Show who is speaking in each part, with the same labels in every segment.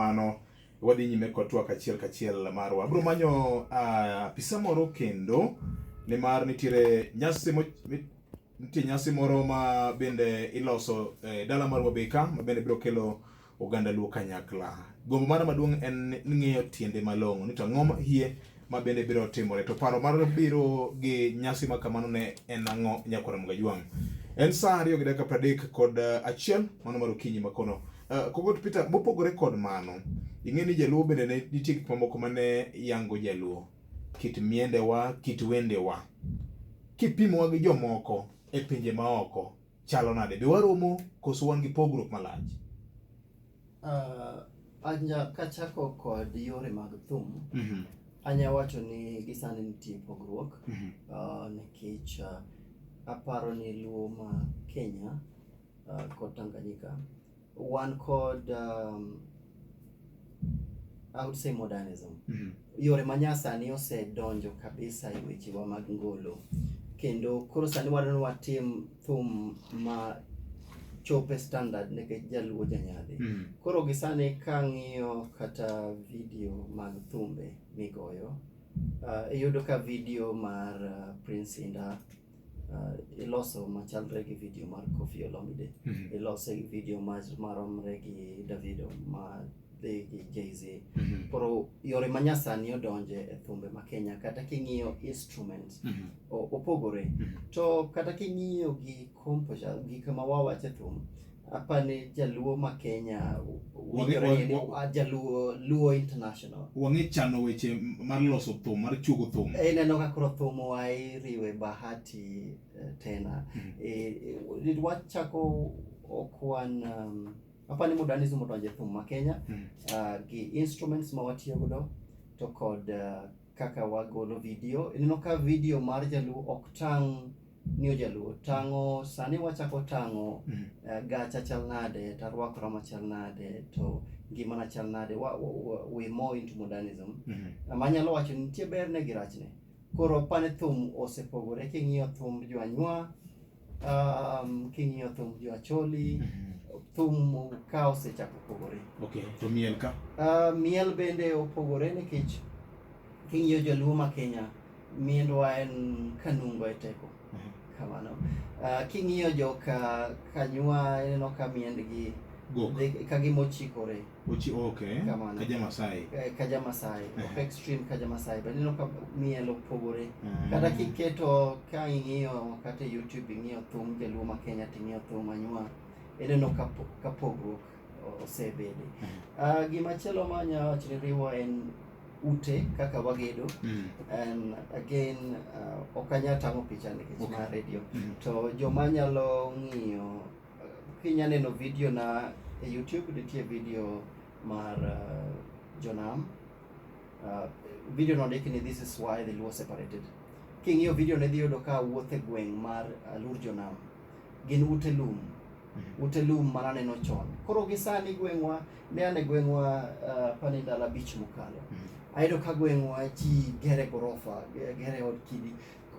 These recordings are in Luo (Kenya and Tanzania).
Speaker 1: mano wadhi nyime kod twak achiel kachiel marwa. Abiro manyo ah, apisa uh, moro kendo nimar nitiere nyasi mo, nitie nyasi moro ma bende iloso eh, dala mar Wabeka ma bende biro kelo oganda luo kanyakla. Gombo mara maduong' en ng'eyo tiende malong'o ni to ang'o ma hie ma bende biro timore. To paro mar biro gi nyasi ma kamano ne en ang'o nyakwar Mgajwang'? En sa ariyo gi dakika pradek kod eh, achiel mano mar okinyi makono. Uh, eh, Kogot Peter, mopogore kod mano, ing'e ni Jaluo bende ne nitie gik mamoko ma ne yango Jaluo, kit miendewa, kit wendewa. Kipimowa gi jomoko e pinje maoko, chalo nade? Be waromo koso wan gi pogruok malach? Uh, anya kachako kod yore mag thum mm -hmm. anya wacho ni gisani nitie pogruok mm -hmm. uh, nikech uh, aparo ni luo ma Kenya uh, kod Tanganyika wan kod um, I would say modernism mm -hmm. yore manyasani osedonjo kabisa e wechewa mag ngolo kendo koro sani wadwani watim thum ma chope standard nikech jaluo janyadhi mm. koro gisani ka ng'iyo kata video mag thumbe migoyo uh, iyudo ka video mar uh, prince inda uh, iloso machalre gi video mar Koffi Olomide mm -hmm. ilose gi video maromre gi Davido ma dhi gi Jay-Z. Mhm. Koro yore ma nyasani odonje e thumbe ma Kenya kata king'iyo instruments Mhm. o- opogore. Mhm. To kata king'iyo gi composure gik ma wawacho e thum apani jaluo ma Kenya Wange- winjore ni wa- ah, jaluo luo international. Wang'e chano weche m- mar loso thum, mar chuogo thum. Ineno ka koro thum wa iriwe bahati eh, tena. Mhm. Eh, eh, wachako okwan um, apani muda ni zumo donje thum ma Kenya mm. uh, gi instruments ma watiyo godo to kod uh, kaka wagolo video ineno ka video mar jaluo ok tang' ni ojaluo tang'o sani wachako tang'o mm. uh, gacha chal nade to arwakora machal nade to ngimana chal nade wa, wa, wa, we more into modernism mm -hmm. ma nyalo wacho nitie berne gi rachne koro apani thum osepogore king'iyo thum jwanywa um, king'iyo thum jo acholi thum ka osechako pogore Okay, to miel ka. uh, miel bende opogore nikech king'iyo joluo ma kenya miendwa en kanungo e teko Mhm. kamano uh, king'iyo joka kanywa ineno ka miendgi Gok. dhi- ka gimochikore Ochi, okay. Kamano. Kaja Masai. Eh, Kaja Masai. Eh. Ok extreme Kaja Masai. But ineno ka miel opogore. Eh. Kata kiketo ka ing'iyo kata e YouTube ing'iyo thum Jaluo ma Kenya to ing'iyo thum Anywa. Ineno ka po- ka pogruok osebede. Ah, gima chielo ma anya wacho ni riwo en ute kaka wagedo. Mm. And again, uh, ok anya tang'o picha nikech Okay. ma radio. Mm. To joma nyalo ng'iyo Kinya neno video na e YouTube nitie video mar uh, Jonam. Uh, video no ndiki ni this is why the Luo separated. King'iyo video ne dhi yudo ka wuothe gweng' mar uh, Lur Jonam. Gin ute lum. Mm-hmm. Ute lum mana neno chon. Koro gi sani gweng'wa ne ane gweng'wa uh, pani ndala bich mokalo. Mm-hmm. Ayudo ka gweng'wa ji gere gorofa, gere od kidi.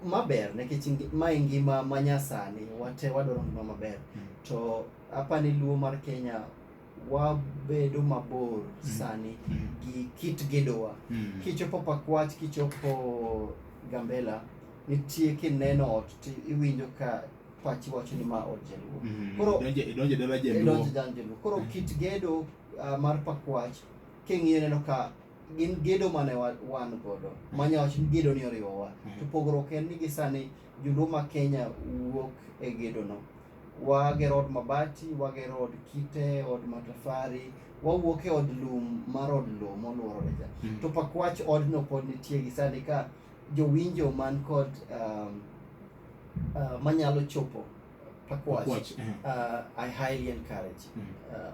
Speaker 1: maber nikech ma e ngima ma nyasani wate wadwaro ngima maber mm. to apa ni luo mar Kenya wabedo mabor mm. sani mm. gi kit gedowa mm. kichopo pakwach kichopo gambela nitie kineno ot to iwinjo ka pachi wacho ni ma od jaluo mm. koro idonjo dala jaluo koro mm. kit gedo uh, mar pakwach king'iyo neno ka gin gedo mane wan godo manya wacho ni gedo ni oriwowa mhm. to pogruok en ni gisani joluo ma Kenya wuok e gedo no wagero od mabati wagero od kite od matafari wawuok e od lum mar od lum moluorore cha mhm. to pakwach odno pod nitie gisani ka jowinjo man kod um, uh, manyalo chopo Pakwach. Pakwach, eh. Uh, I highly encourage. Mm. Uh,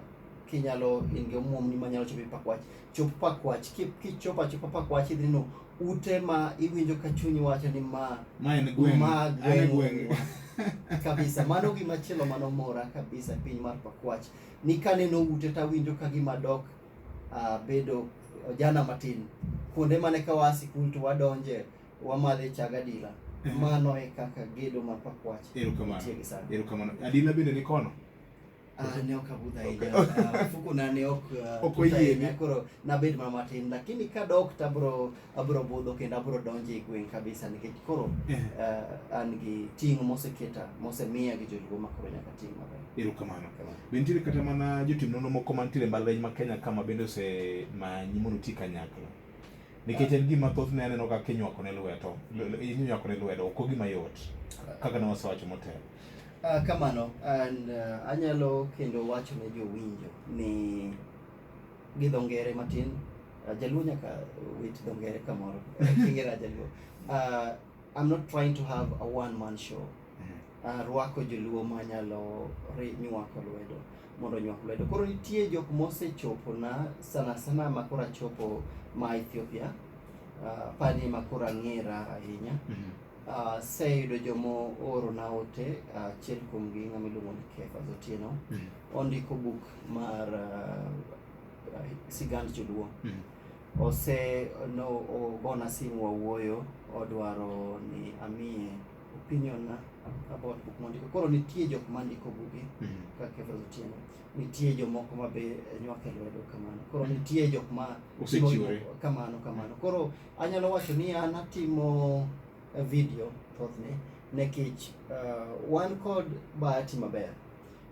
Speaker 1: kinyalo in gi omuomni manyalo chopo e pakwach chop pakwach Ki- kichopo achopa pakwach idhi neno ute ma iwinjo ka chunyi wacho ni ma Ma en gweng'. ma An e gweng'. gweng'wa kabisa mano gima chielo mano mora kabisa e piny mar pakwach ni kaneno ute tawinjo ka gima dok uh, bedo ojana matin kuonde mane ka waa sikul to wadonje Wamadhe chag adila. Ehe. Mano e kaka gedo ma pakwache. Erokamano. Nitie gi sani. Erokamano. Adila bende ni kono? Ah, ne ok abudh ahinya. Ah, Mfukuna ne ok ah, Ok tut oyiene. ahinya, Koro nabed mana matin lakini kadok to abro abro budho kendo abro donjo e gweng' kabisa nikech koro Ehe. ah, an gi ting' moseketa mosemiya gi joluo ma koro nyaka ting' maber. Erokamano. Be nitiere kata mana jotim nonro moko mantiere e mbalariany ma Kenya ka ma bende osemanyi mondo uti kanyakla? nikech en gima thothne aneno kaka inywako ne lweto inywako ne lwedo ok gima yot kaka ne wasewacho motelo uh, kamano and uh, anyalo kendo wacho ne jowinjo ni gi dho ngere matin uh, jaluo nyaka wit dho ngere kamoro kingera jaluo uh, i'm not trying to have a one man show mm-hmm. uh, rwako joluo manyalo nywako lwedo mondo onyuak lwedo. Koro nitie jok mosechopona sana sana ma koro achopo ma Ethiopia, uh, pani ma koro ang'era ahinya. Mm -hmm. Uh, seyudo jomo oro na ote ah, achiel uh, kuomgi ng'ama iluongo ni Kefa Zotieno mm -hmm. ondiko buk mar uh, sigand joluo mm -hmm. ose no ogona simu wawuoyo odwaro ni amiye opinion na about buk mondiko. Koro nitie jok mandiko buge mm -hmm. kaka Evans Otieno, nitie jomoko ma be nywake lwedo kamano. Koro mhm. nitie jok ma osechiwore kamano kamano. Koro anyalo wacho ni an atimo eh, video thothne nekech uh, eh, wan kod bahati maber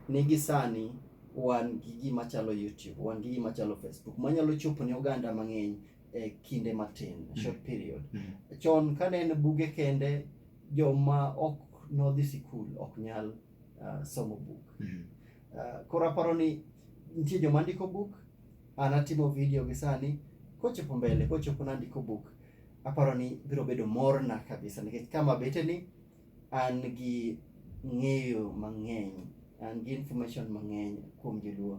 Speaker 1: ni gi sani wan gi gima chalo YouTube, wan gi gima chalo Facebook manyalo chopo ne oganda mang'eny e kinde matin mm. short period mm. chon ka ne en buge kende joma ok nodhi sikul ok nyal uh, somo buk mm. uh, koro aparo ni nitie joma ndiko buk an atimo video gi sani kochopo mbele kochopo nandiko buk aparo ni biro bedo morna kabisa nikech kama bete ni an gi ng'eyo mang'eny an gi information mang'eny kuom joluo